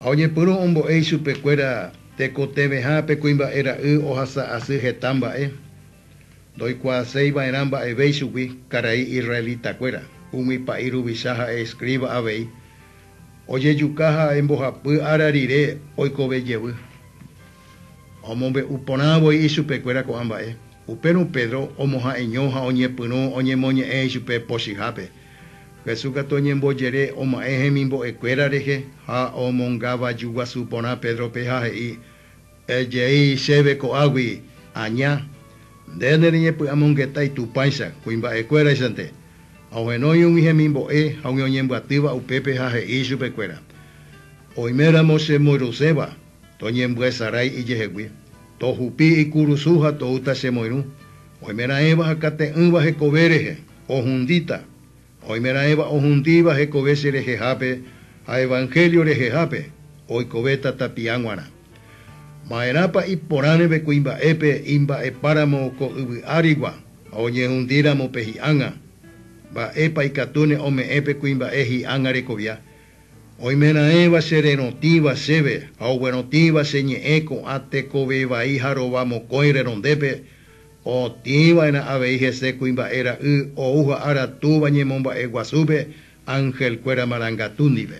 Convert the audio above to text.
Ha oñepyrũ ombo'e ichupekuéra tekotevẽha pe kuimba'e ra'y ohasa asy heta mba'e, ndoikuaaséi va'erã mba'eve ichugui, karai israelitakuéra, umi pa'i ruvicha ha'e escriba avei, ojejuka ha embohapy ára rire oikove jevy. Ha omombe'u porã voi ichupekuéra ko'ã mba'e. Upérõ Pedro omoha'eño ha oñepyrũ oñemoñe'ẽ ichupe pochyhápe, Jesús katu oñembojere oma'ẽ hemimbo'ekuéra rehe ha omonga vaju guasu porã Pédrope ha he'i, Ejei chéve ko'águi, aña. Nde nereñepy'amongetái Tupãicha, kuimba'ekuéraichante. Ha ohenói umi hemimbo'e ha umi oñembyatýva upépe ha he'i chupekuéra, Oiméramo chemboyruséva, Toñembyesarái ijehegui, tohupi ikurusu ha toúta che moirũ, oimeraẽva akate'ỹva hekove rehe, ohundíta, ha oimeraẽva ohundíva hekove che rehehápe ha evangelio rehehápe, oikovéta tapiã g̃uarã. Ma'erãpa iporãreve kuimba'épe imba'epáramo ko yvy árigua ha oñehundíramo pe hi'ág̃a? Mba'épa ikatúne ome'ẽ pe kuimba'e hi'ág̃a rekovia? Oimeraẽva che rerotĩva chéve ha oguerotĩva che ñe'ẽ ko'ã tekove vai ha rova mokõi renondépe, otĩ va'erã avei hese kuimba'e ra'y ou ha ára túva ñemomba'e guasúpe angelkuéra marangatu ndive.